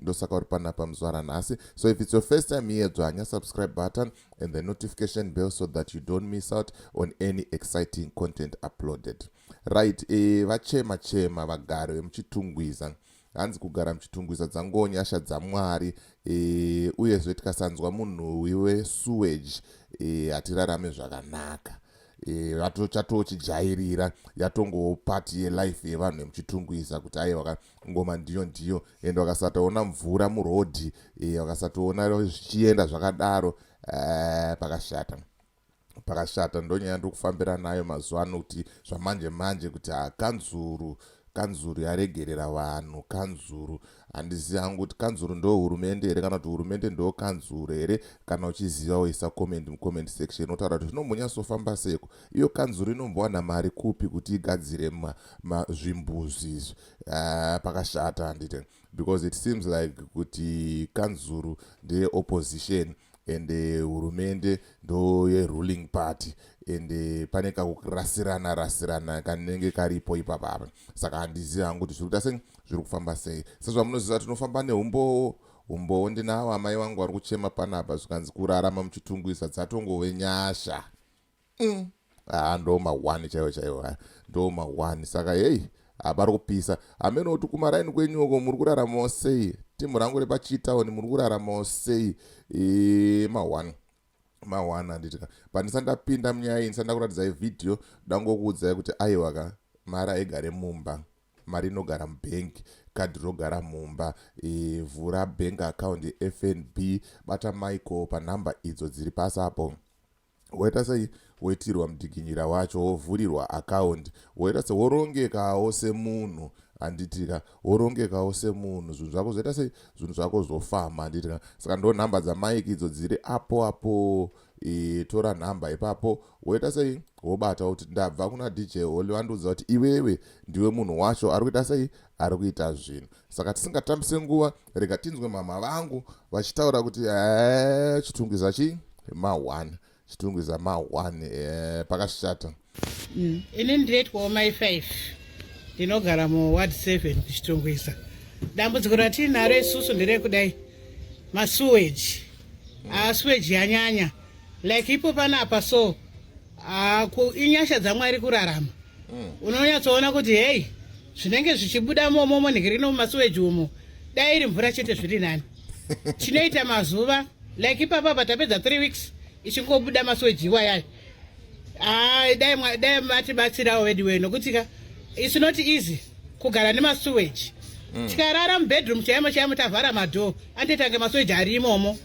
ndosaka uri panapa muzvara nhasi so if its your first time here dzvanya subscribe button and the notification bell so that you don't miss out on any exciting content uploaded right e, vachema chema vagari vemuchitungwiza hanzi kugara muchitungwiza dzango nyasha dzamwari e, uyezve tikasanzwa munhu wiwe sewage e, hatirarame zvakanaka e, vatochatochijairira yatongopati yelife yevanhu vemuchitungwiza kuti aiwa ngoma ndiyo ndiyo and wakasatoona mvura murodhi eh, wakasatoona zvichienda zvakadaro eh, pakashata pakashata ndonyaya ndiri kufambira nayo mazuva ano kuti zvamanje manje kuti hakanzuru ah, kanzuru yaregerera vanhu kanzuru handizivi hangu kuti kanzuru ndo hurumende here kana kuti hurumende ndo kanzuru here kana uchiziva woisa comment mucomment section otaura kuti zvinombonyatsofamba seko iyo kanzuru inombowana mari kupi kuti igadzire zvimbuzi izvi uh, pakashata handite because it seems like kuti kanzuru ndeye opposition and eh, hurumende ndo yeruling party and eh, pane kakurasirana rasirana kanenge karipo ipapapa saka handizivi hangu kuti zviri kuita sei zviri kufamba sei sezvamunoziva tinofamba neumbowo umbowo ndinawo amai vangu vari kuchema panapa zvikanzi kurarama muchitunguisa dzatongove nyasha mm. haa ndo mahwani chaiwo chaiwo haya ndo mahwani saka heyi hapari kupisa hameno kuti kumaraini kwenyu uko muri kuraramawo sei timu rangu repachitaoni muri kuraramawo sei e, mahwani mahwani handiti ka pandisa ndapinda munyaya iyi ndisanda kuratidzai vhidhiyo dangokuudzai kuti aiwa ka mari aigare mumba mari inogara mubhengi kadhi rogara mumba e, vhura bank account yefnb bata michael panhamba idzo dziri pasi apo woita sei woitirwa mudikinyira wacho wovhurirwa akaundi woita se worongekawo semunhu handitika worongekawo semunhu zvinhu zvako zvoita sei zvinhu zvako zvofamba handitika saka ndo nhamba dzamaiki idzo dziri apo apo e, tora nhamba ipapo woita sei wobata kuti ndabva kuna dj holy vandiudza kuti iwewe ndiwe munhu wacho ari kuita sei ari kuita zvinhu saka tisingatambise nguva Rega tinzwe mhamha vangu vachitaura kuti ee chitungwiza chii ma one chitungwiza ma one ee pakashata. Mm. Ini ndinoitwawo mai five ndinogara muward seven kuchitungwiza. Dambudziko ratiinaro isusu nderekudai masuweji. Asuweji yanyanya like ipo panapa so Ah, ku inyasha dzaMwari kurarama. Mm. Unonyatsoona kuti hey, zvinenge zvichibuda momo monhirino mumasuweji umo. Dai iri mvura chete zviri nani. Chinoita mazuva like ipapa patapedza 3 weeks ichingobuda masuweji iwayayo. Ah, dai mwa- dai matibatsirawo veduwe nokuti ka it's not easy kugara nemasuweji. Mm. Tikarara mubedroom chaimo chaimo tavhara madhoo anditange masuweji ari imomo.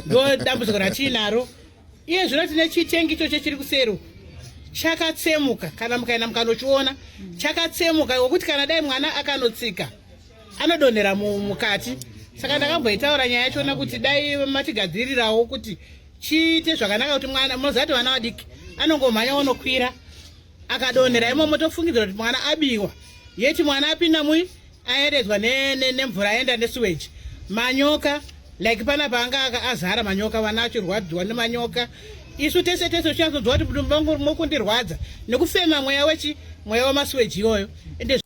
Ndo dambudziko ratinaro. iye zvino tine chitengi ichocho chiri kusero chakatsemuka kana mukaenda mukanochiona chakatsemuka ngokuti kana dai mwana akanotsika anodonhera mukati saka ndakamboitaura nyaya yachona kuti dai matigadzirirawo kuti chiite zvakanaka kuti mwana mozati vana vadiki anongomhanya onokwira akadonhera imomo tofungidzira kuti mwana abiwa yeti mwana apinda mui ayeredzwa nemvura aenda nesuweji manyoka like pana paanga aka azara manyoka vana achirwadziwa nemanyoka isu tese tese tichazodzwa kuti vangu mokundirwadza nekufema mweya wechi mweya wemasuweji iyoyo ende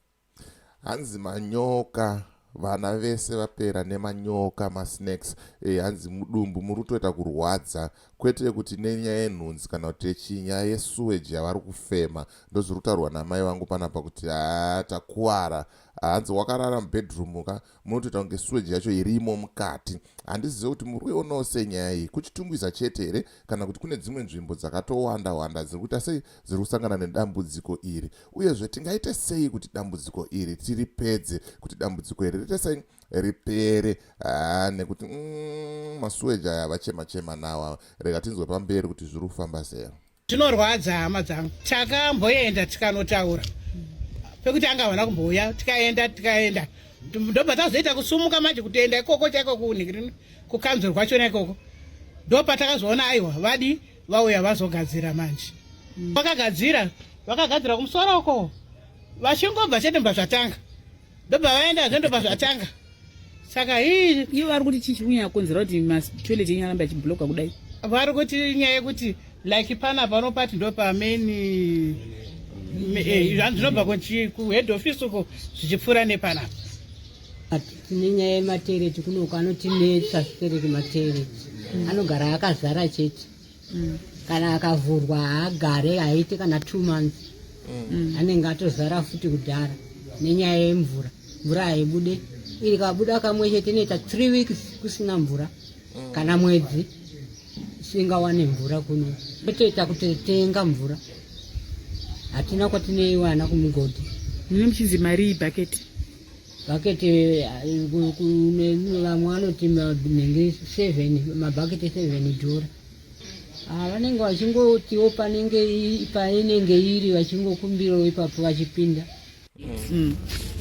hanzi manyoka vana vese vapera nemanyoka masnacks e, hanzi mudumbu muri kutoita kurwadza kwete kuti nenyaya yenhunzi kana kuti yechii nyaya yesuweji yavari kufema ndozviri kutaurwa namai vangu panapa kuti haa takuvara hanzi wakarara mubedroom ka munotoita kunge suweji yacho irimo mukati handizive kuti muri kuionawo sei nyaya iyi kuchitungwiza chete here kana kuti kune dzimwe nzvimbo dzakatowanda wanda dziri kuita sei dziri kusangana nedambudziko iri uyezve tingaite sei kuti dambudziko iri tiripedze kuti dambudziko iri rite sei ripere haa nekuti mm, masuweji aya vachema chema nawa rega tinzwe pamberi kuti zviri kufamba sei zvinorwadza hama dzangu takamboenda tikanotaura pekuti anga havana kumbouya tikaenda tikaenda ndobva tazoita kusumuka manje kutoenda ikoko chaiko kunhikiri kukanzuru kwachona ikoko ndopatakazoona aiwa vadi vauya vazogadzira manje vakagadzira vakagadzira kumusoro uko vachingobva chete mbva zvatanga ndobva vaenda zvendobva zvatanga saka hii ivo vari kuti chii chikunyanya kukonzera kuti matoilet enyu arambe achibloka kudai vari kuti nyaya yekuti like pana pano pati ndo pamain eh, zvanhu zvinobva kuhead office uko zvichipfuura nepanapa tine nyaya yematereti kunoko anotinetsa zvitereki matereti anogara akazara chete mm. kana akavhurwa haagare haite kana two months mm. anenge atozara futi kudhara nenyaya yemvura mvura haibude iri kabuda kamwe chete inoita three weeks kusina mvura mm. kana mwedzi singawane mvura kuno totoita kuti tenga mvura hatina kwatinoiwana kumugodhi mune muchinzi mari ibhaketi bhaketi vamwe vanoti nenge seven mabhaketi seven dhora ah, vanenge vachingotiwo panenge painenge iri vachingokumbirawo ipapo vachipinda mm.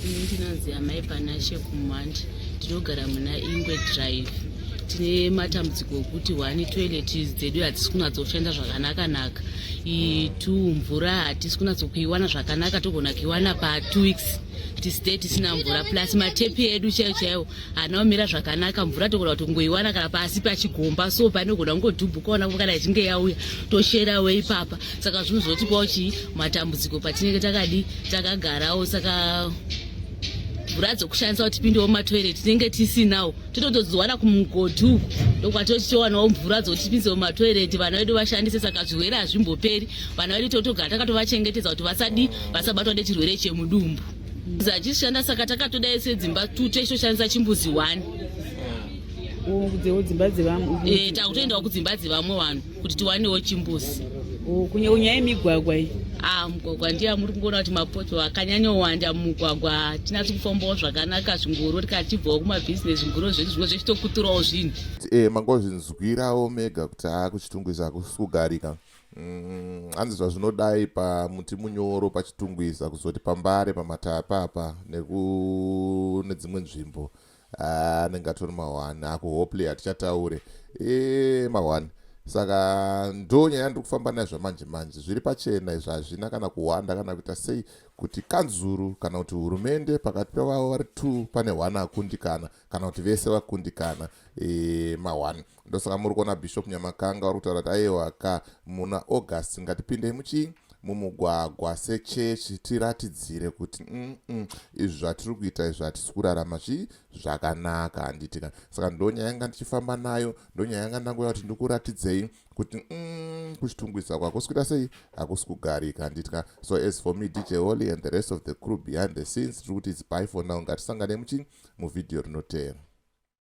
ini ndinonzi amai panashe kumandi tinogara muna ingwe drive tine matambudziko okuti one toilet dzedu hadzisi kunatsoshanda zvakanakanaka two mvura hatisi kunatsokuiwana zvakanaka togona kuiwana patwo weeks tisite tisina mvura plus matepi edu chaiyo chaiwo haana kumira zvakanaka mvura togona kuti kungoiwana kana pasi pachigomba so panogona kungodhubhuka ona kana ichinge yauya toshera we ipapa saka zvinozotipawo chii matambudziko patinenge takadi takagarawo saka mvura dzokushandisa kuti tipindewo mumatoireti tinenge tisinawo tinotodziwana kumugoti uku ndokwatochitowanawo mvura dzotipinze mumatoireti vana vedu vashandise saka zvirwere hazvimboperi vana vedu totogara takatovachengetedza kuti vasadi vasabatwa nechirwere chemudumbu zachishanda saka takatoda ese dzimba tute ichitoshandisa chimbuzi one eh, takutoendawo kudzimba dzevamwe vanhu kuti tiwanewo chimbuzi oh, kunyewo nyaya yemigwagwa iyi ah, mugwagwa ndiye amuri kungoona kuti mapoto akanyanyowanda mumugwagwa hatinasi kufambawo zvakanaka zvingoro rikatibvawo kumabhizinesi zvingoro zvedu zvimwe zvechitokuturawo zvinhu e mangozvinzwirawo mega kuti haa kuchitungwiza hakusi kugarika mm, hanzi zvazvinodai pamuti munyoro pachitungwiza kuzoti pambare pamatapa apa nedzimwe nzvimbo Ah, anenge atori mahwani akuhopley hatichataure e mahwani saka ndo nyaya ndiri kufamba nayo zvamanje manje zviri pachena izvo hazvina kana kuhwanda kana kuita sei kuti kanzuru kana kuti hurumende pakati pevavo vari two pane one akundikana kana kuti vese vakundikana e, mahwani ndosaka muri kuona bishop nyamakanga vari kutaura kuti ayewa ka muna august ngatipindei muchii mumugwagwa sechechi tiratidzire kuti mm izvi zvatiri kuita izvi hatisi kurarama zvii zvakanaka handiti ka saka ndonyaya yanga ndichifamba nayo ndonyaya yanga ndangoya kuti ndikuratidzei kuti mm, kuchitungwisa kwakusi kuita sei hakusi kugarika handiti ka so as for me dj holy and the rest of the crew behind the scenes tiri kuti its by for now ngatisangane muchii muvhidhiyo rinotera